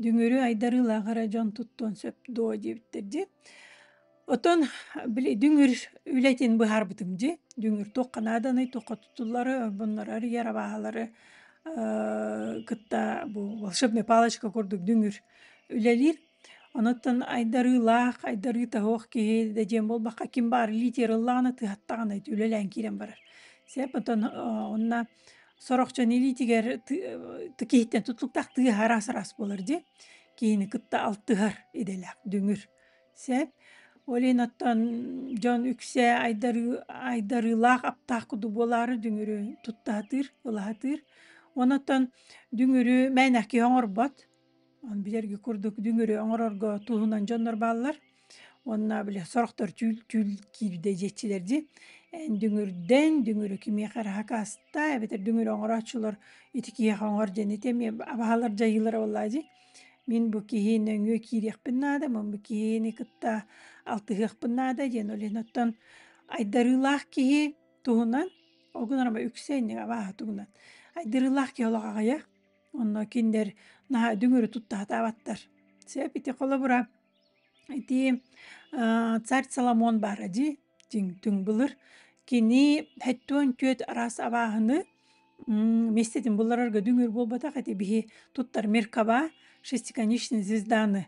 Дүҥүрү айдарыылаах эрэ дьон туттуон сөп дуо диэбиттэр дии. Оттон били дүҥүр үлэтин быһаарбытым дии. Дүҥүр туохха нааданый, туохха тутуллары, bunları эрийэр абааһылары кытта бу волшебная палочка курдук дүҥүр үлэлиир. Онуттан айдарыылаах, айдарыы таһуох киһи да диэн буолбакка, ким баар литераллаана тыһаттаҕына үлэлээн киирэн барар. Сеп онтон онно сорохчон илиитигэр киһиттэн тутулуктаах тыаһа араас-араас буолар дии. Киһини кытта алтыһар идэлээх, дүҥүр. Сеп. Ол иһин оттон дьон үксэ айдарыы айдарыылаах, аптаах куду буолаары дүҥүрү туттаһытыыр, ылаһытыыр. Онон оттон дүҥүрү мээнэх киһи оҥорбот. билэрги курдук дүңүрү оңорорго туһунан дьоннор бааллар уонна били сорохтор чүүл чүүл киирдэ дьеччилер ди дүңүрден дүңүрү кимиэхэр хакаста эбэтер дүңүрү оҥорооччулар ити киһиэхэ оҥор дьэните эмиэ абаһалар дьайыылара боллаа ди мин бу киһи нөҥүө киириэхпин наада мин бу киһини кытта алтыһыахпын наада диэн олен оттон айдарыылаах киһи туһунан огунарама үксэ инник абааһа тугунан айдарыылаах киһи олох аҕыйах Онно киндер наһаа дүҥүрү туттаатаабаттар. Сөп ити холобура ити царь Соломон баара дии тиҥ түҥ былыр кини хэттуон түөт араас абааһыны миэстэтин булларарга дүҥүр буолбатах эти биһи туттар меркаба шестиконечные звезданы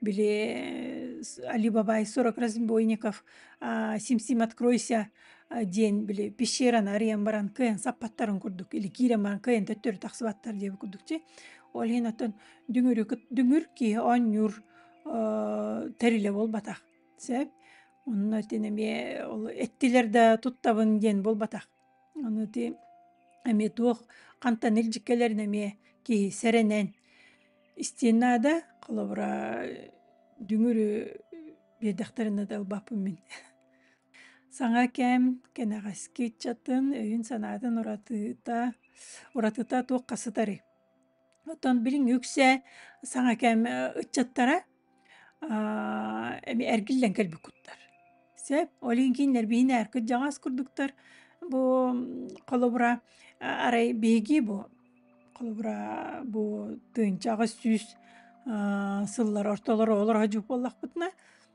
Били Алибабай сорок разбойников сим-сим откройся диэн били пещераны арыйан баран кыайан саппаттарын курдук или киирэн баран кыайан төттөрү тахсыбаттар диэбит курдук чи ол иһин оттон дүҥүрү дүҥүр киһи оонньуур тэрилэ буолбатах сөп онно итини эмиэ ол эттилэр да туттабын диэн буолбатах Аны ити эмиэ туох хантан илдьиккэлэрин эмиэ киһи сэрэнэн истиэн наада. Холобура дүҥүрү биэрдэхтэринэ да ылбаппын мин. Саҥа кэм, кэнэҕэски ыччатын өйүн-санаатын уратыта, уратыта туохха сытарый? Оттон билиҥ үксэ саҥа кэм ыччаттара эми эргиллэн кэлбиккуттар. Сөп, ол иһин кинилэр биһини ээркэ дьаҕас курдуктар. Бу холобура арай биһиги бу холобура бу тыынча аҕыс сүүс сыллар ортолор оҕолоро сдьук буоллахпытына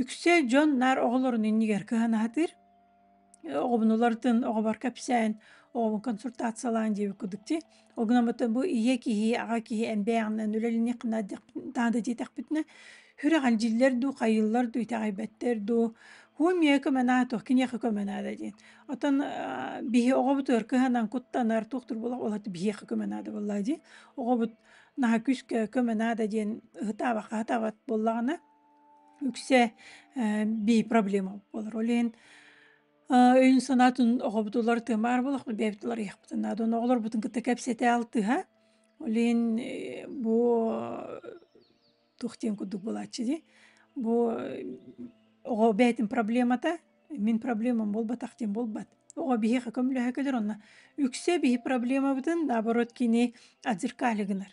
Үксэ дьон наар оҕолорун иннигэр кыһанаһытыр, оҕобун уларытын, оҕобор кэпсээн, оҕобун консультациялаан диэбит курдук дии. Ол гынан барытын бу ийэ киһи, аҕа киһи эн бэйэҕинэн үлэлиниэххинэ таһа да диэтэхпитинэ сүрэҕин дьиллэр дуу, хайыыллар дуу итэҕэйбэттэр дуу, һуу эмиэ көмөнаа туох киниэхэ көмөнаа да диэн. Оттон биһи оҕобутугар кыһанан куттанар туохтур буоллах ол аата биһиэхэ көмөнаа да буоллаа дии. Оҕобут наһаа күүскэ көмөнаа да диэн ыһытаабакка ыһытаабат буоллаҕына үксэ бии проблема буолар ол иһин өйүн-санаатын оҕобут уларытыа баар буолуохпут бэйэбит уларыйыахпытын наада оны оҕолорбутун кытта кэпсэтэ алтыһа ол иһин бу туох диэн курдук буолааччы дии бу оҕо бэйэтин проблемата мин проблемам буолбатах диэн буолбат оҕо биһиэхэ көмөлөһө кэлэр онно үксэ биһи проблемабытын наоборот кини отзеркале гынар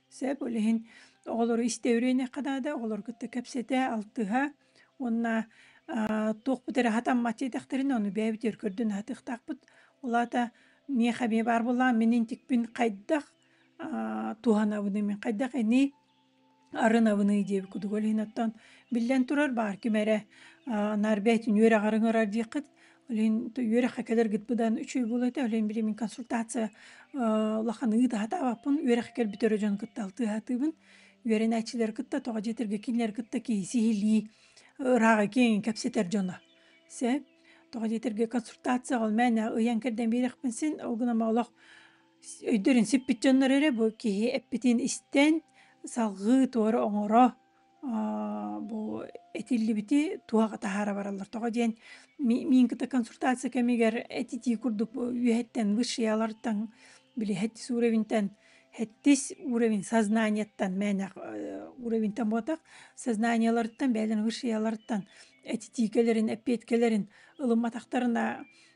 Сөп, ол иһин оҕолору истэ үрэниэххэ наада, оҕолору кытта кэпсэтэ, алтыһа уонна аа туох эрэ хатаммат диэтэхтэринэ ону бэйэбитигэр көрдөн аһатыахтаахпыт. Ол аата миэхэ эмиэ баар буоллаҕа, мин интикпин хайдах аа туһанабыный, мин хайдах ини арынабыный диэбит кудугу ол иһин оттон биллэн турар баар ким эрэ аа наар бэйэтин үөрэҕэр ыҥырар диэххит Лин үөрэххэ кэлэргит быдан үчүгэй буолуо этэ. Лин били мин консультация улаханныгы таһатаабаппын. Үөрэххэ кэлбит өрө дьон кытта алтыһаатыбын. Үөрэнээччилэри кытта тоҕо дьиэтэргэ кинилэри кытта киһи сиһилии ырааҕы киэҥ кэпсэтэр дьоно. Сэ тоҕо дьиэтэргэ консультацияҕа ол мээнэ ыйан кэрдэн биэриэхпин син ол гынан олох өйдөрүн сиппит дьоннор эрэ бу киһи эппитин истэн салҕыы туора оҥоро бу этиллибити туһаҕа таһаара бараллар. Тоҕо диэн миин кыта консультация кэмигэр этитии курдук үөһэттэн высшиялартан били хэттис уровентэн хэттис уровень сознанияттан мээнэх уровентэн буотах сознаниеларыттан бэйэлэрин высшияларыттан этитии кэлэрин эппиэткэлэрин ылымматахтарына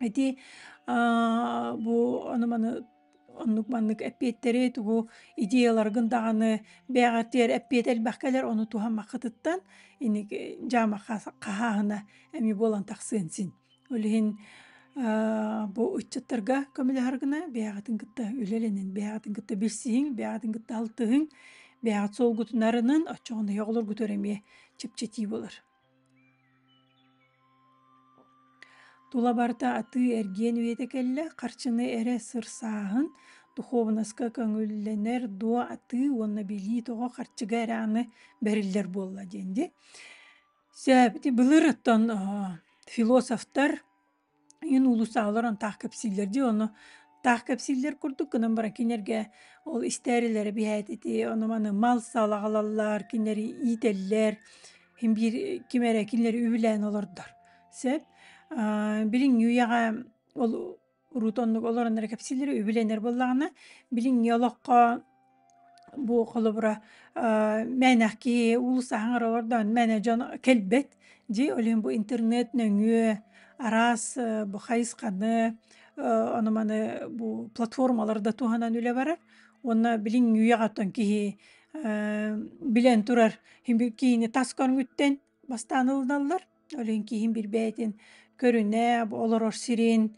Ити, аа, бу ону-маны оннук-маннык эппиэттэри тугу идеяларгын даҕаны бэйэҕитигэр эппиэт элбэх кэлэр, ону туһаммаккытыттан иники дьаамаха хаһааһына эмиэ буолан тахсыан син. Ол иһин, аа, бу ыччаттарга көмөлөһөргүнэ бэйэҕитин кытта үлэлэнин, бэйэҕитин кытта билсиһиҥ, бэйэҕитин кытта алтыһыҥ, бэйэҕит солгутунарынын, оччоҕуна оҕолоргутугар эмиэ чэпчэтии болор. Тула барыта атыы-эргиэн үйэтэ кэллэ, харчыны эрэ сырсааһын, духуобунаска көҥүллэнэр дуо атыы уонна билии тоҕо харчыга эрэ аны бэриллэр буолла диэн дии. Сөп, ити былыр оттон философтар Иһин уулуссаалар он таах кэпсииллэр дии, ону таах кэпсииллэр курдук гынан баран кинилэргэ ол истээрилэрэ биһээт ити ону-маны мал салаҕалаллар, кинилэри иитэллэр, иһин биир ким эрэ кинилэри үбүлээн олордор. Сөп. билиҥҥи үйэҕэ ол урут оннук олорон эрэ кэпсииллэрэ үбүлэнэр буоллаҕына, билиҥҥи олоххо Бу холобура мээнэхки улус аһаҥар олордон мээнэ дьон кэлбэт дии ойлуйм бу интернет нөҥүө араас бу хайысханы ону маны бу платформалар да туһанан үлэ барар уонна билиҥ үйэҕэ оттон киһи билэн турар киһини тас көрүҥүттэн Бастаан ылыналлар, өлүн киһин билбээтин көрүнэ, бу олорор сирин,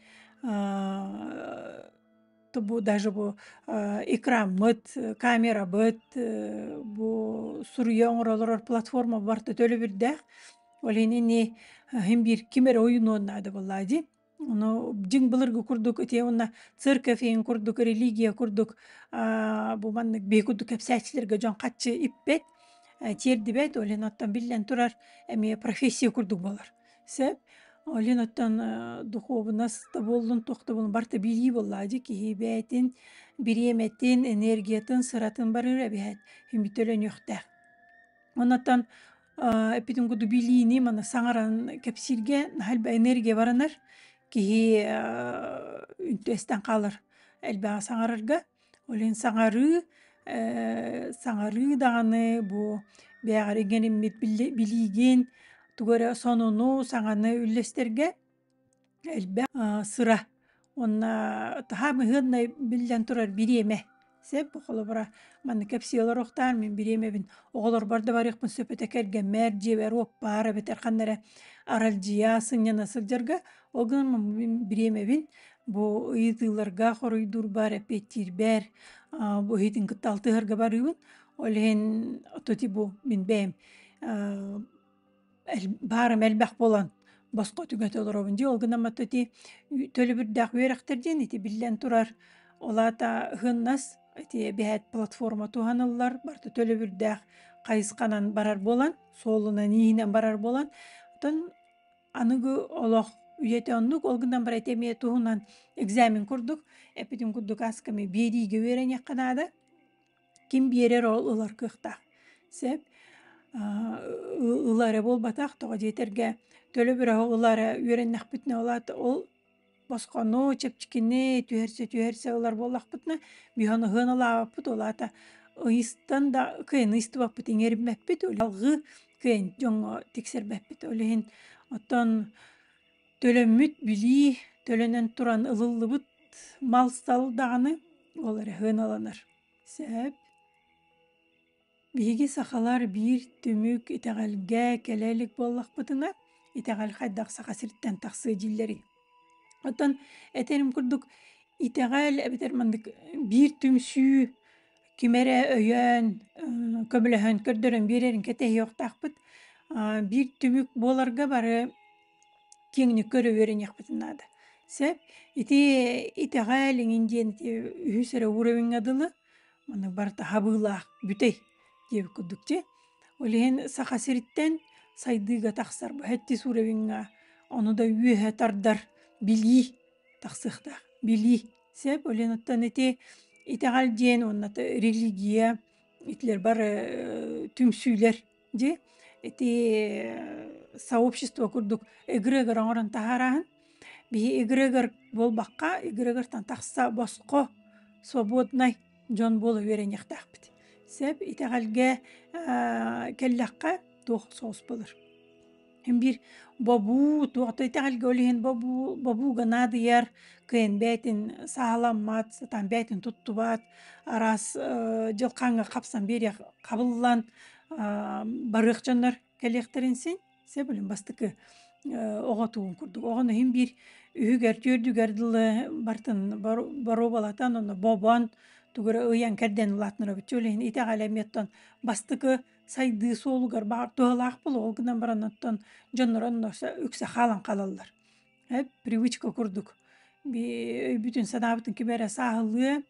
бу даже бу экранмыт, камерабыт, бу суруйа оҥоролор платформа барыта төлөбүрдээх. Ол иһин ини ким эрэ ойунуон наада буоллаа дии. Ну, дьиҥ былыргы курдук итиэ уонна церковь иһин курдук, религия курдук, аа, бу маннык биһи курдук кэпсээччилэргэ дьон харчы иппэт, э, тиэрдибэт, ол иһин оттон биллэн турар эмиэ профессия курдук буолар. Сөп. Ол иһин оттон э, духуобунас да буоллун, туох да буоллун барыта билии буоллаа дьи киһи бэйэтин бириэмэтин, энергиятын, сыратын барыыра эбиһэт, химбитэ өлөнүөхтээх. Оннотон эппитим курдук билиини манна саҥаран кэпсииргэ наһаа элбэх энергия баранар киһи үстэн хаалар элбэҕи саҥарарга ол иһин саҥарыы саҥарыы даҕаны бу бэйэҕэр иҥэриммит билиигин тугу эрэ сонуну саҥаны үллэстэргэ элбэх сыра уонна таһаа быһыаннай биллэн турар бириэмэ сеп холобура манна кэпсии олоруохтаан мин бириэмэбин оҕолорбор да барыахпын сөп этэ кэргэммэр дьиэбэр уоппаар эбэтэр ханна эрэ аралдьыйа сынньана сылдьарга ол гынан бириэмэбин бу ыйытыыларга хоруйдуурбар эппиэттиирбэр бу иһитин кытта алтыһарга барыыбын ол иһин отути бу мин бэйэм баарым элбэх буолан босхо түгэтэ олоробун дии ол гынан матта ити төлөбүрдээх үөрэхтэр диэн ити биллэн турар ол аата ыһыннас ити биһээт платформа туһаныллар барыта төлөбүрдээх хайысханан барар буолан суолунан иинэн барар буолан оттон аныгы олох үйэтэ оннук ол гынан бара ити эмиэ туһунан экзамен курдук эппитим курдук асками биэриигэ үөрэниэххэ наада ким биэрэр ол ылар кыахтаах. Сэп ыла эрэ буолбатах, тоҕо диэтэргэ төлө бөлөһө ыла эрэ үөрэннэхпитинэ улаат ол босхону, чэпчэкини түһэрсэ түһэрсэ ылар буоллахпытына бүһэн ыһыан ылаабыппыт улаата ыйыстан да кыайан ыйыстыбаппыт иҥэриммэппит алгыы кыайан дьоҥҥо тиксэрбэппит ол иһин оттон Төлөммүт билии төлөнөн туран ылыллыбыт мал-сал даҕаны ол эрэ сыаналанар. Сөп. Биһиги сахалар биир түмүк итэҕэлгэ кэлэ илик буоллахпытына, итэҕэл хайдах Саха сириттэн тахсыы дьиллэрий? Оттон этерим курдук, итэҕэл эбэтэр маннык биир түмсүү ким эрэ өйөөн, көмөлөһөн көрдөрөн биэрэрин кэтэһиэхтаахпыт. биир түмүк буоларга бары киэҥник көрө үөрэниэхпитин наада. Сөп? Ити итэҕэл иҥин диэн ити үһүс эрэ уровеньҥа дылы маннык барыта хабыылаах бүтэй диэбит курдук дьэ. Ол иһин Саха сириттэн сайдыыга тахсар бу сэттис уровеньҥа ону да үөһэ тардар билии тахсыахтаах. Билии. Сэп өлүөн оттон ити итэҕэл диэн уонна та религия, итилэр бар э, түмсүүлэр дьи ити э, сообщество курдук эгрегор оҥорон таһаараһын биһи эгрегор буолбакка эгрегортан тахса босхо свободнай дьон буола үөрэниэхтээхпит сэп итэҕэлгэ э, кэллэххэ туох соҕус болор Биир бобуу, туохтай итэҕэлгэ ол иһин бобуу, бобуу гына адыйар, кыайан бэйэтин сааһыламмат, сатаан бэйэтин туттубат, араас э, дьылхааҥҥа хапсан биэриэх хабыллан а, барыах дьоннор кэлиэхтэрин син сөбүлүн бастакы э, оҕо тууун курдук. Оҕону иһин биир үһүгэр, түөрдүгэр дылы бартын боруобалатан, ону бобон, тугура ыйан кэрдэн улаатынар бүччү. Ол иһин итэҕэлэ эмиэ бастакы Сайдыы суолугар баар туһалаах буолуо. Ол гынан баран оттон дьоннорун носа үксэ хаалан хаалаллар. Э, привычка курдук. Би өйбүтүн, санаабытын ким эрэ сааһылыа,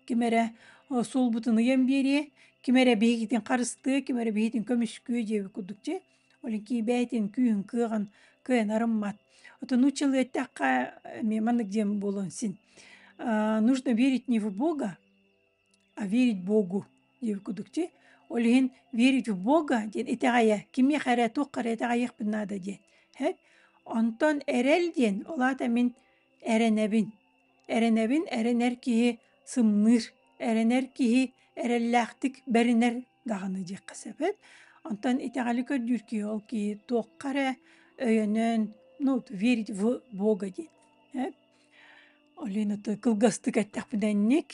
ким эрэ о суолбутун ыйан биэриэ, ким эрэ биһигитин харыстыа, ким эрэ биһигитин көмүскүө диэби курдук дьэ, олинкии бэйэтин күүһүн кыаҕын кыайан арыммат. Отон учила эттэххэ, э, ме маннык диэн буолуон син. А, нужно верить не в Бога, верить Богу диэбит кудукчи, ол иһин верить в Бога диэн итэҕэйэ, кимиэхэ эрэ, туохха эрэ итэҕэйиэхпин наада диэн. Хэп? Онтон эрэл диэн, ол аата мин эрэнэбин. Эрэнэбин эрэнэр киһи сымныыр, эрэнэр киһи эрэллээхтик бэринэр даҕаны диэххэ сөпөт. Онтон итэҕэли көрдүүр киһи ол киһи туохха эрэ өйөнөн, ну, верить в Бога диэн. Хэп? Оленаты кылгастык эттэхпинэнник,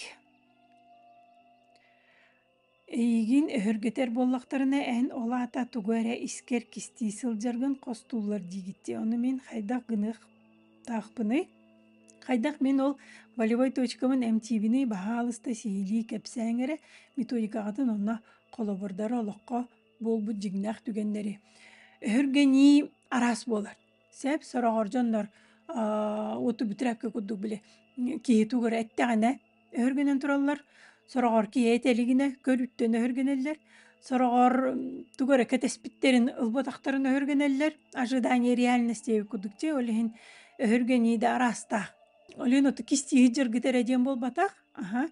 эйигин өһөргөтөр буоллахтарына, эн ол аата тугу эрэ искэр-кистии сылдьаргын хостууллар диигиттии. Ону мин хайдах гыныахтаахпыный? Хайдах мин ол волевой точкамын эмтиибиний баһаалыста сиһилии кэпсээҥ эрэ методикаҕытын онно холобурдары олоххо буолбут дьиҥнээх түгэннэри. Өһөргөнүү араас буолар. Сөп, сороҕор дьоннор аа уту бүтүрээккэ курдук били киһи тугу эрэ эттэҕинэ өһүргэнэн тураллар. Сороҕор киһи этэ илигинэ көрүттэн өһүргэнэллэр. Сороҕор тугу эрэ кэтэспиттэрин, ылбатахтарын өһүргэнэллэр. Ожидание реальности эбит курдук дьэ, ол иһин өһүргэнии да араастаах. Ол иһин оту кистии сыдьаргыт эрэ диэн буолбатах. Аха.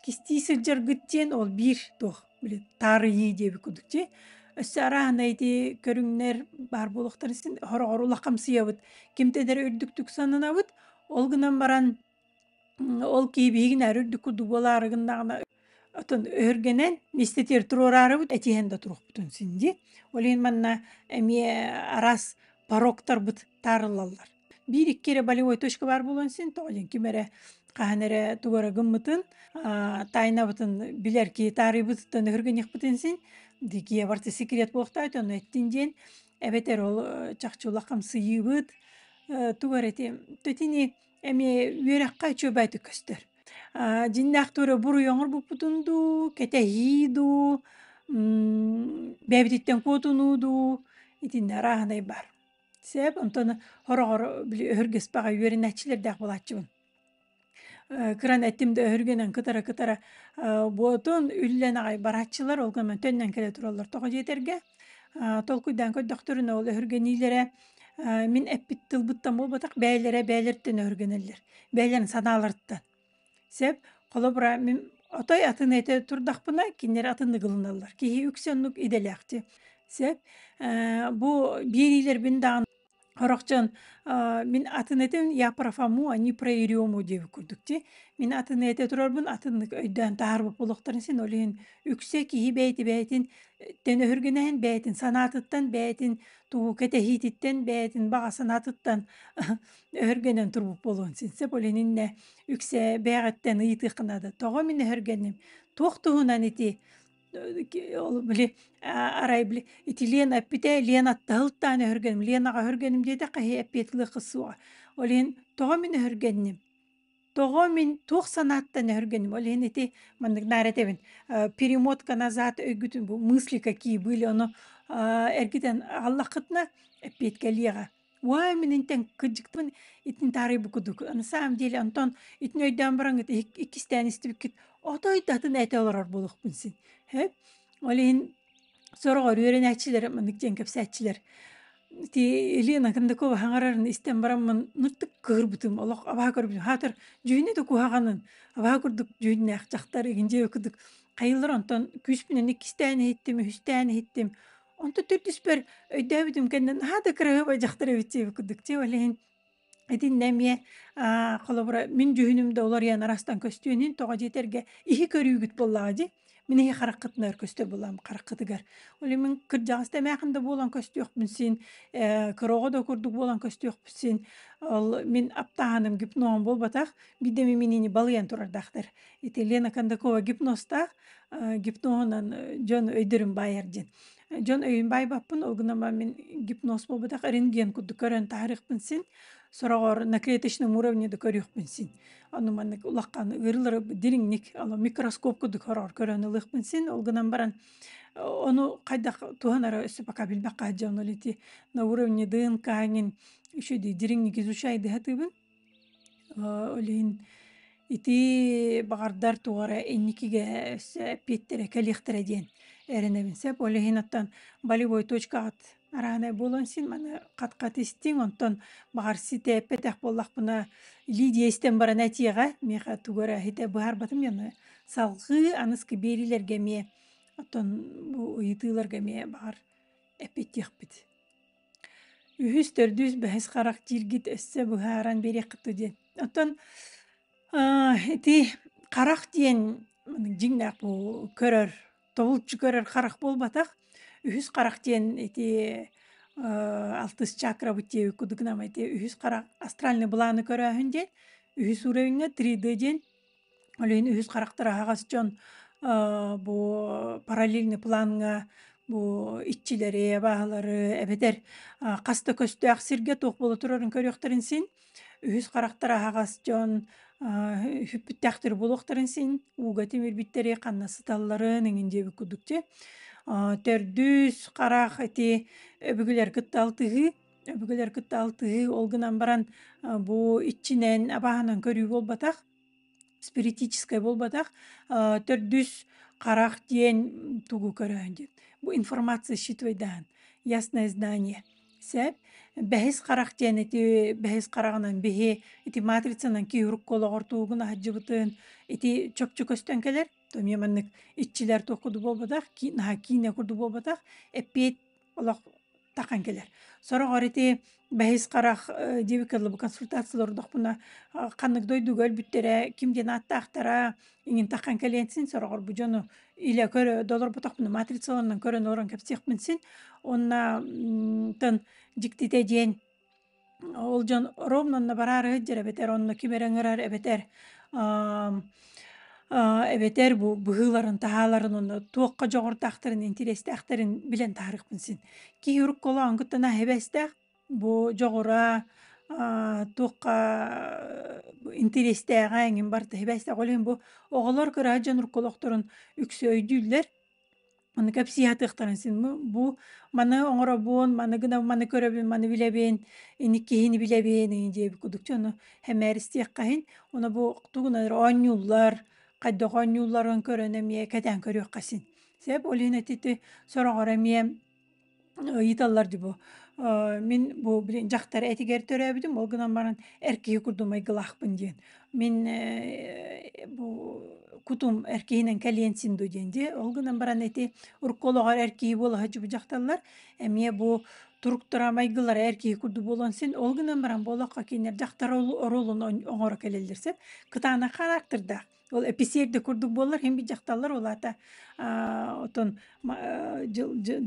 Кистии сыдьаргыт диэн ол биир туох били таарыйыы диэбит курдук дии. Өссө арааһынай ити көрүҥнэр баар буолуохтарын син хороҕор улахамсыйабыт. Кимтэн эрэ үрдүктүк сананабыт. Ол гынан баран ол киһи биһигин ары үрдүк курдук буолаары гыннаҕына отон өһүргэнэн мистэтиэр туруораарыбыт этиһэн да туруохпутун син дии. Ол иһин манна эмиэ араас пороктарбыт таарыллаллар. Биир-икки эрэ болевой точка баар буолан син тоҕолин ким эрэ хаһан эрэ тугура гыммытын аа тайнабытын билэр киһи таарыйбытыттан өһүргэниэхпитин син дикие барты секрет буохтаайт ону эттин диэн эбэтэр ол э, чахчы улах хамсыйыыбыт э, тугу эрэ ити тэтини эми үөрэххэ чөбөйтүк көстөр а дьиннээх тура буруйоңор буппутун дуу кэтэһии дуу бэбититтен куотунуу дуу итиннэ арааһынай бар Сээп онтон хороҕор били өһүргэспэҕэ үөрэнээччилэрдээх буолааччыбын. Э, кыран эттим да өһүргэнэн кытара-кытара э, буотун үллэн аҕай барааччылар ол гынан төннөн кэлэ тураллар тоҕо дьиэтэргэ э, толкуйдаан көрдөхтөрүнэ ол өһүргэниилэрэ мин эппит тылбыттан буолбатах бэйэлэрэ бэйэлэриттэн өһүргэнэллэр бэйэлэрин санааларыттан Сеп, холобура, мин отой атын эти турдахпына, кинилэр атын ыгылыналлар. Киһи үксэ оннук идэлээхтик. Сеп, э, бу биэриилэрбин даҕаны хорохчон э, мин атын этин я профому, а не проирему диэбит курдук дии. Мин атын эти турарбын атыннык өйдөөн таһаарбыт буолуохтарын син ол иһин үксэ киһи бэйти бэйэтин тэн өһүргэнэһин бэйэтин санаатыттан, бэйэтин тугу кэтэһиититтэн, бэйэтин баҕа санаатыттан өһөргөнөн турбут буолуон син сөп ол иннинэ үксэ бэйэҕиттэн ыйытыахха наада тоҕо мин өһөргөнүм туох туһунан ити ол били арай били ити лен эппитэ лен аттаһылтаан өһөргөнүм лен аҕа өһөргөнүм диэтэ хаһыы эппиэт ылыахха суоҕа ол иһин тоҕо мин өһөргөннүм тоҕо мин туох санааттан өһөргөнүм ол иһин ити маннык наар этэбин перемотка назад өйгүтүн бу мысли какие были ону эргитэн ааллаххытына эппиэткэ ылыаҕа Уа, мин интен кыддыктын итин таарый бу кудук. На самом деле Антон итин өйдөөн бараҥыт иккистээн истибиккит отой датын эте олорор болохпун син. Хэп? Ол иһин сорогор үөрэнээччилэр маннык диэн кэпсээччилэр. Ти Елена Кондакова хаҥарарын истэн бараммын нуттук кыырбытым олох абаха көрбүтүм. Хаатыр дьүһүнэ да куһаҕанын абаха курдук дьүһүннээх дьахтар игин дьэ кудук хайыллар онтон күүспүнэн иккистээн иһиттим, үһүстээн иһиттим. Онто төрдүспөр өйдөөбүтүм кэннин наһаа да кыраһыаба дьахтар эбит диэбит курдук. Дьэ ол иһин итиннэ эмиэ аа холобура мин дьүһүнүм да уларыйан арастан көстүөнүн тоҕо дьиэтэргэ иһи көрүүгүт буоллаҕа дии. Мин иһи хараххытынан өр көстөр буоллам хараххытыгар. Ол иһин мин кырдьаҕас да эмээхин да буолан көстүөхпүн син, э, кыраҕа да курдук буолан көстүөхпүн син, ол мин аптааһыным гипноҕум буолбатах, биирдэ мин минини балыйан турардаахтар. Итилиэн Акандакова гипнозтаах, гипноһунан дьон өйдөрүн баайар диэн. Дьон өйүн баайбаппын, ол гынан мин гипноз буолбатах рентген курдук көрөн таһаарыахпын син, сороҕор на клеточном уровне да көрүөхпүн син. Ону маннык улахан ыарыылары дириҥник, ала микроскоп курдук хороор көрөн ылыахпын син, ол гынан баран ону хайдах туһан эрэ өссө пока билбэххэ сдьоннул ити на уровне ДНК-ҥин еще дириҥник изучай дыһатыыбын Лин итии баҕардар тугара инникигэ өссө эппиэттэрэ кэлиэхтэрэ диэн эрэнэбин. Сөп, ол иһин оттон болевой точкаҕыт арааһынай буолуон син маны хат-хат истиҥ, онтон баҕар ситээппэтэх буоллахпына Лидия истэн баран этиэҕэ, миэхэ тугу эрэ иһитэ быһаарбатым дьону. Салҕыы аныскы биэриилэргэ эмиэ оттон бу ыйытыыларга эмиэ баҕар эппиэттиэхпит. үһүс төрдүс бэһис харах дииргит өссө быһааран биэриэххитэ диэн оттон ити харах диэн дьиҥнээх бу көрөр тобулчу көрөр харах буолбатах үһүс харах диэн ити алтыс чакрабыт диэби кудыгнамай диэн үһүс харах астральный былааны көрөөһүн диэн үһүс уровеҥҥа три д диэн Ол иһин үһүс характер аһаҕас дьон бу параллельный планҥа бу иччилэри, абааһылары эбэтэр хас да көстөөх сиргэ туох буола турарын көрүөхтэрин син, үһүс характер аһаҕас дьон үһүппүттээхтэр буолуохтарын син, ууга тимирбиттэри ханна сыталларын эҥин диэбит курдук дьэ. Төрдүс харах ити өбүгэлэр кытта алтыһыы Өбүгэлэр кытта алтыһыы, ол гынан баран, а, бу иччинэн, абааһынан көрүү буолбатах, спиритическай буолбатах. А, төрдүс харах диэн тугу көрөөн диэн. Бу информация считывай даан, ясное здание. Сэп, бэһис харах диэн ити бэһис хараҕынан биһи ити матрицанан киюрук олоҕор туугун аһаджыбытын ити чопчу көстөн кэлэр. То эмиэ маннык иччилэр туох курдук буолбатах, ки наһаа киинэ курдук буолбатах, эппиэт олох тақан келер сорох арити бэһис харах дивикаллы консультация лордохпуна ханнык дойдуга өлбүттэрэ ким диэн ааттаахтара иҥин тақан кэлиэнсин сорохор бу дьону илэ көрө долорбутохпуна матрицаланнан көрөн орон кэпсиэхпин син онна тын диктите диэн Ол дьон ровнунна бараары ыһдьар эбэтэр онно ким эрэ ыҥырар эбэтэр эбэтэр бу быһыыларын таһааларын онно туохха дьоҕурдаахтарын интириэстээхтэрин билэн таһаарыахпын син киһи уруккулаан кыттана иһэбэстээх бу дьоҕура туохха интириэстээҕэ эҥин барыта иһэбэстээх ол иһин бу оҕолор кыра дьон уруккулаахтарын үксэ өйдүүллэр Аны кэпсии сатыахтарын син бу бу маны оҥоробун, маны гына маны көрөбүн, маны билэбин, инникиһини билэбин ини диэбит кудук дьону сэмээристиэххэ иһин. Ону бу тугун эрэ оонньууллар, хайдах оонньуулларын көрөн эмиэ кэтээн көрүөххэ син. Сөп, ол иһин ити сороҕор эмиэ ыйыталлар дии бу мин бу блин дьахтар этигэр төрөөбүтүм ол гынан баран эр киһи курдук майгылаахпын диэн мин бу кутум эр киһинэн кэлиэн син ду диэн дии ол гынан баран ити урукку олоҕор эр киһи буолаһа дьубу дьахталлар эмиэ бу туруктара майгылара эр киһи курдук буолуон син ол гынан баран буолахха кинилэр дьахтар оруолун оҥоро кэлэллэр сөп кытаанах характердаах Ол эписиэр да курдук буоллар, хин дьахталлар улаата отон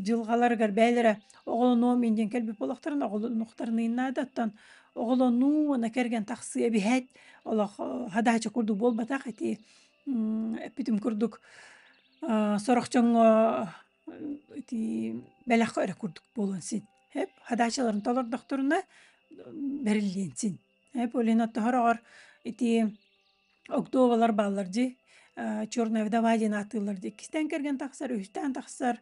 дьылгаларыгар бээлэрэ оҕолоноо мин диэн кэлбит олохторун оҕолонуктарныыннаада оттон оҕолонуу уона кэргэн тахсыа биһэт олох хадаача курдук буолбатах эти эппитим курдук сорохчоҥҥо ити бэлэххэ эрэ курдук буолан син эп хадаачаларын толордохторуна бэриллиэн син эп олин оттохороҕор ити Октуобалар бааллар дии, э, "Черная вдова" диэн ааттыыллар дии. Иккистээн кэргэн тахсар, үһүстээн тахсар,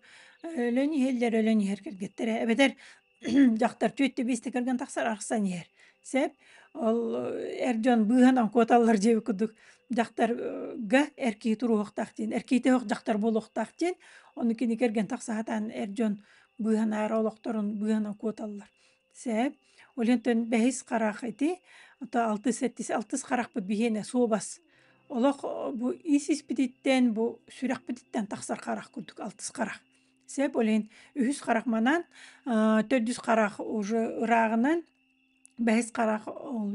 өлөн иһэллэр, өлөн иһэр кэргэттэрэ. Эбэтэр дьахтар түөттэ биэстэ кэргэн тахсар, арахсан иһэр. Сөп. Ол эр дьон быыһанан куоталлар диэбит курдук, дьахтарга эр киһи туруохтаах диэн, эр киһитэ суох дьахтар буолуохтаах диэн. Ону кини кэргэн тахса сатаан эр дьон быыһанаары олохторун быыһанан куоталлар. Сэһэ Олентон бэһис харах ити, ото алтыс сэттис алтыс харахпыт биһиэнэ суобас. Олох бу ис-испититтэн, бу сүрэхпититтэн тахсар харах курдук алтыс харах. Сэп олен үһүс харах манан, төрдүс харах уже ыраагынан, бэһис харах ол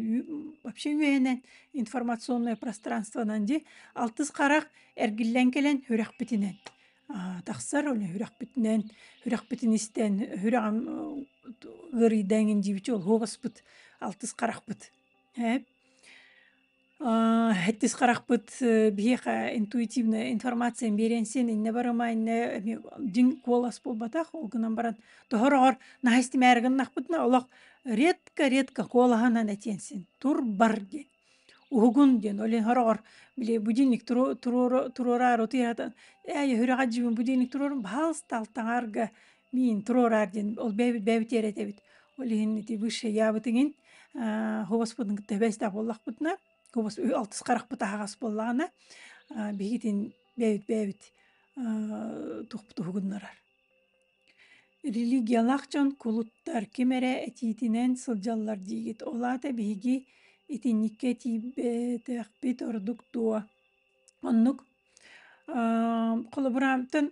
вообще үөһэнэн информационное пространствонан ди алтыс харах эргиллэн кэлэн үрэхпитинэн. тахсар оны үрэхпитинэн үрэхпитин истэн үрэҕим ыарыйда эҥин диэбичи холуобаспыт алтыс харахпыт ээ хэттис харахпыт биһиэхэ интуитивная информация биэриэн сиэн иннэ барыма иннэ эми дьиҥ куолас буолбатах ол гынан баран тоһороҕор наһаа истимээри гыннахпытына олох редко редко куолаһынан этиэн син тур бар диэн Уһугун диэн олен хороҕор били будильник туру туруору туруораары утуйаатан ээ үһүрэҕэ дьиибин будильник туруорум баһаалыста алтаҥаарга миин туруораар диэн ол бэйэбит бэйэбит тиэрэтэбит. Ол иһин ити высший яабытыҥин аа хобуспутун кытта эбээстээх буоллахпытына хобус алтыс харахпыт аһаҕас буоллаҕына аа биһигитин бэйэбит бэйэбит аа тухпут уһугуннарар Религиялаах дьон кулуттар ким эрэ этиитинэн сылдьаллар диигит, ол аата биһиги итинниккэ тиийбэтэхпит ордук дуо? Оннук. холобураантан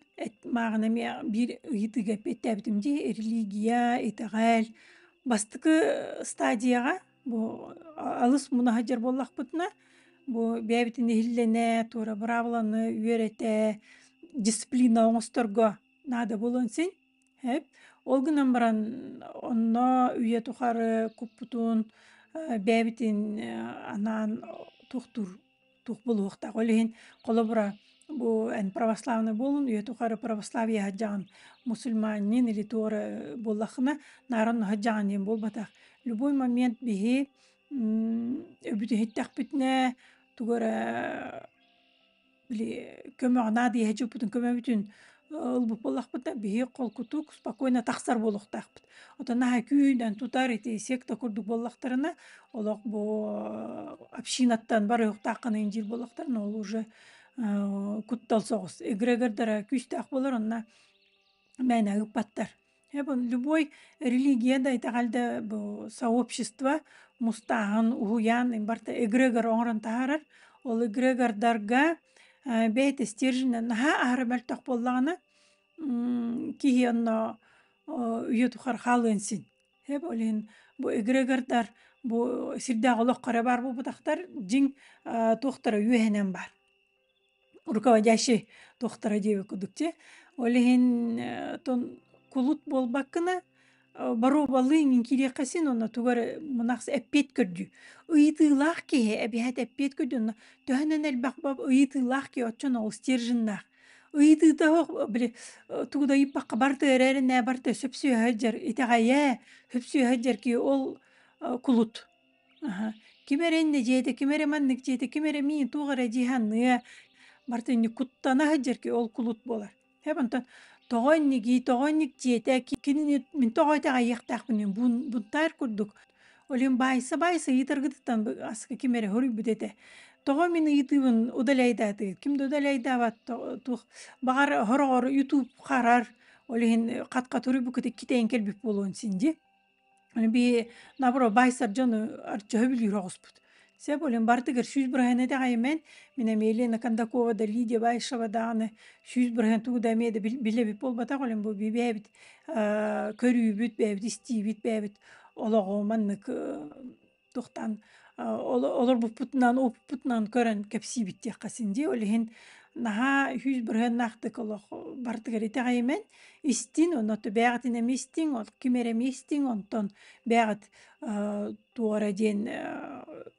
мааҕына эмиэ биир ыйытыыга эппиэттээбитим дии, религия, итэҕэл бастакы стадияҕа бу алыс муна сылдьар буоллахпытына бу бэйэбитин иһиллэнэ, туора быраабыланы үөрэтэ, дисциплина оҥосторго наада буолуон син э ол гынан баран онно үйэ тухары куппутун бэбитин анаан тухтур тух булуохтаах ол иһин холобура бу эн православный буолун үйэ тухары православие хаджаан мусульманнин или туора буллахына наран хаджаанин буолбатах любой момент биһи өбүтүһүттэхпитинэ тугу эрэ били көмөҕүнаа диэһэ дьуппутун көмөбүтүн ылбыт буоллахпыта биһи холкутук спокойно тахсар буолуохтаахпыт. Отон аһа күүнэн тутар ити секта курдук буоллахтарына олох бу общинаттан барыһыктааххына инжир буоллахтарына ол уже куттал соҕус эгрегордара күүстээх болор онно мээнэ ыппаттар Эбон любой религия да итэҕэлдэ бу сообщество мустааһын уһуйаан барта эгрегор оҥорон таһаарар. Ол эгрегордарга э, бэйэтэ стерженинэн наһаа аһара мөлтөх буоллаҕына м, киһи онно о, үйэ тухары хаалыан син. Эб ол иһин бу эгрегордар бу сирдээх олоххо эрэ баар буолбатахтар, дьиҥ э, туохтара үөһэнэн баар. руководящий тохтара диэби кудук те ол иһин тон кулут буолбаккына боруобалыыҥ инкириэххэ онно тугу эрэ мунахс эппиэт көрдүү ыйытыылаах киһи эбиэт эппиэт көрдүү онно төһөнөн элбэх ыйытыылаах киһи оччон ол стерженнаах ыйытыыта суох били тугу да ыйыппакка барта эрээри нээ барта сөпсүөһэ сылдьар итэҕэйэ сөпсүөһэ сылдьар киһи ол кулут Аха. Ким эрэ иннэ дьиэтэ, ким эрэ маннык дьиэтэ, ким эрэ миин туох эрэ дьиһанныа, бары инник куттана сылдьар ки ол кулут буолар. Һэп онтон тоҕо иннигий, тоҕо инник дьиэтэ, ки кинини мин тоҕо итэҕэйиэхтээхпиний бун бунтаар курдук. Ол иһин баайса-баайса ыйытаргытыттан бы аскы ким эрэ хоруйбут этэ. Тоҕо мин ыйытыыбын удаляйдаатыгыт? Ким да удаляйдаабат то туох баҕар сороҕор YouTube харар, ол иһин хатка туруйбуккутук китээн кэлбит буолуон син дии. би наоборот баайсар дьону арчаһы билүүр оҕуспут се болин бартыгар сүүс бырыһаны дэҕэйимэн мин эмиэлиэна кондакова да лидия баишева дааны сүүс бырыһан тугу да эмиэ да билэбит буолбатах олин бу бибээбит көрүүбүт бээбит истиибит бээбит олоҕу маннык Тохтаан олорбуппутунан уопуппутунан көрөн кэпсиибиттиэххэ син дии. Ол иһин наһаа үһүс бырыһыаннаахтык олох бартыгар итэҕэйимэн истин онно бэйэҕитин эмиэ истиҥ, ол ким эрэ эмиэ истиҥ, онтон бэйэҕит туора диэн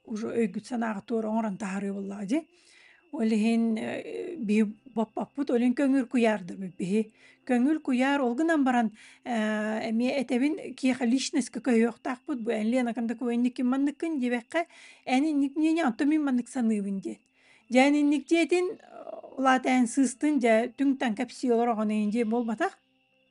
уже өйгүт санааҕыт туора оҥорон таһаарыы буоллаҕа дии. Ол иһин, э, биһи баппаппыт ол иһин көҥүл куйаардабыт биһи. Көҥүл куйаар ол гынан баран, э, эмиэ этэбин киэхэ личностка көһүөхтаахпыт бу эн Ленакан докуменниккин манныккын диэбэххэ, эн инник мнение онтон мин маннык саныыбын диэн. Дьэ эн инник диэтин, э, улаата эн сыыстын, дьэ түҥ-таҥ кэпсии олор оҕону ин диэн буолбатах.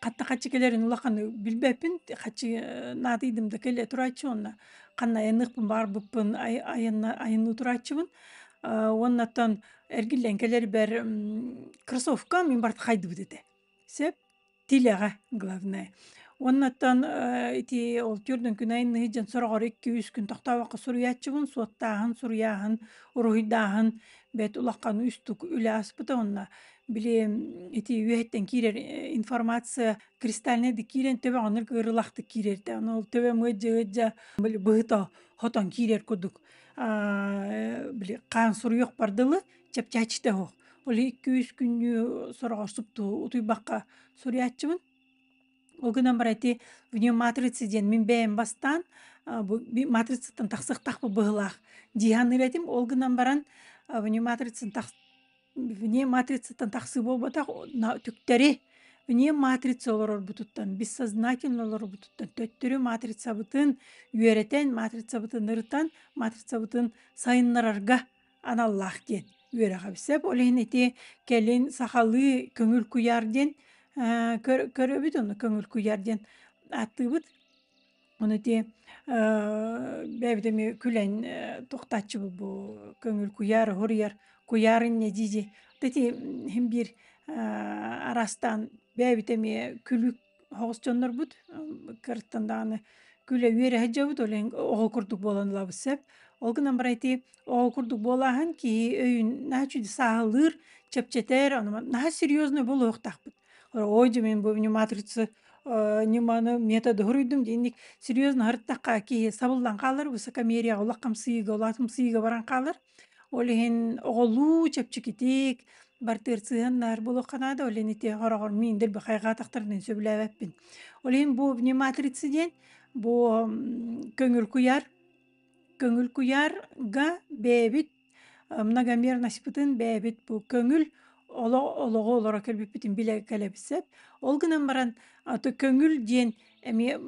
Хатта хаччы кэлэрин улаханы билбэппин, хаччы наадыйдым да кэлэ турааччы уонна ханна айанныахпын баарбыппын ай айанна айанныы турааччыбын. Уоннаттан эргиллэн кэлэрбэр кроссовка мин барыта хайдыбыт этэ. Сөп, тилэҕэ главное. Уоннаттан ити ол түөрт күн айанныы сылдьан сороҕор икки-үс күн тохтообокко суруйааччыбын, суоттааһын, суруйааһын, уруһуйдааһын бэрт улахан үстук үлэ ааспыта уонна Били ити үөһэттэн киирэр информация кристальнайдык киирэн төбө оннук ырылахтык киирэртэ. Аны ол төбө мыдьдьыгыддьа били быһыта хотон киирэр курдук били хаан суруйуох бардылы чэпчээччитэ оһох. Ол икки-үс күннүү сороҕорсуптуу утуйбакка суруйааччыбын. Ол гынан баран ити вне матрицы диэн мин бэйэм бастаан бу матрицаттан тахсыахтаахпыт быһыылаах дии саныыр этим. Ол гынан баран вне матрицаны Вне матрицаттан тахсыы буолбатах түктэри вне матрица олорорбутуттан, бессознательно олорорбутуттан төттөрү матрицабытын үөрэтэн, матрицабытын ырытан, матрицабытын сайыннарарга аналлаах диэн үөрэҕэ билсэп. Ол иһин ити кэлин сахалыы көҥүл куйаар диэн көрөбүт, ону көҥүл куйаар диэн ааттыыбыт. Ону итии бэйэбит эмиэ күлэн тохтооччубут бу көҥүл куйаар уһуруйар куйаар инньэ дии-дии вот эти иһин биир араастаан бэйэбит эмиэ күлүүк оҕус дьоннорбут кыраттан даҕаны күлэ үөрэһэ дьабыт ол иһин оҕо курдук буолан ылабыт сөп ол гынан баран ити оҕо курдук буолааһын киһи өйүн наһаа үчүгэй сааһылыыр чэпчэтэр ону наһаа серьезнай буолуохтаахпыт Ой, мин бу матрица ньыманы методы хоруйдум диинник серьезно харыттахха киһи сабыллан хаалар высокомерияҕа олох хамсыыга олаат хамсыыга баран хаалар ол иһин оҕолуу чэпчэкитик бартыырсыһаннар булуохха наада ол иһин ити хороҕор мин дэлби хайҕаатахтарынан сөбүлээбэппин ол иһин бу вниматрица диэн бу көҥүл куйаар көҥүл куйаарга бэйэбит Многомерностьпытын бэйэбит бу көҥүл оло олоҕу олоро кэлбиппитин билэ кэлэбиссэп. Ол гынан баран аты көҥүл диэн эмиэ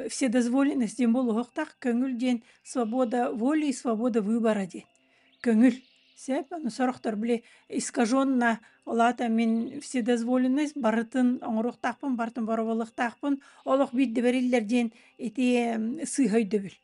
вседозволенность диэн буолуохтаах көҥүл диэн свобода воли и свобода выбора диэн көҥүл сеп аны сорохтор били искаженно ол аата мин вседозволенность барытын оҥоруохтаахпын барытын бороболуохтаахпын олох биирдэ бэриллэр диэн ити сыыһа өйдөбүл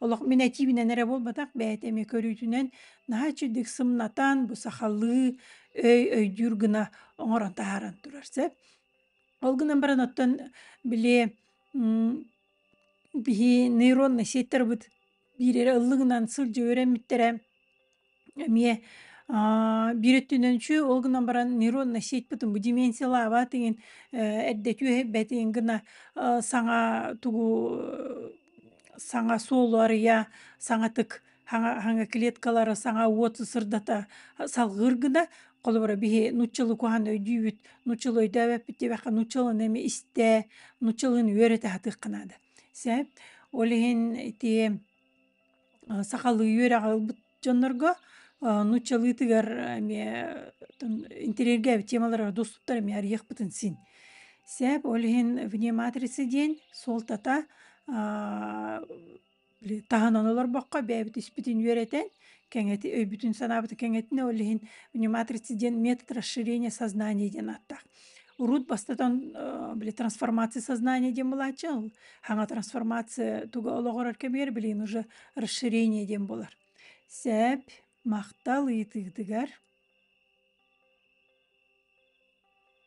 Олох мин этиибинэн эрэ буолбатах, бэйэтэ эмиэ көрүүтүнэн наһаа үчүгдүк сымнатан, бу сахалыы өй өйдүүр гына оҥорон таһааран турар. Сөп? Ол гынан баран оттон били биһи нейроннай сеттарбыт биир эрэ ыллыгынан сылдьа үөрэммиттэрэ Эмиэ аа, биир өттүнэн үчү ол гынан баран нейронная сетьпытын бу деменциялаабаат иҥин э, эрдэтүү эһэйбэт иҥин гына э, саҥа тугу э, саҥа суолу арыйа, саҥатык хаҥа хаҥа клеткалары саҥа уот сырдата салҕыыр гына холобура биһи нуччалыы куһаан өйдүүбүт нуччалыы өйдөөбөппүт диэбэххэ нуччалыын эми истээ нуччалыын үөрэтэ сатыахха наада сээп ол иһин ити сахалыы үөрэҕи ылбыт дьоннорго нууччалыытыгар эмиэ интириэргээбит темалара доступтар эмиэ арыйыахпытын син. Сээп ол иһин вне матрицы диэн суолтата таһынан олорбокко бэйэбит испитин үөрэтэн кэҥэти өйбүтүн санаабытын кэҥэтинэ ол иһин вне матрицы диэн метод расширения сознания диэн ааттаах Урут бастатан э, били трансформация сознания диэн былааччы хаҥа трансформация туга олоҕурар кэмигэр билин уже расширение диэн болар сәп махтал ыйытыытыгар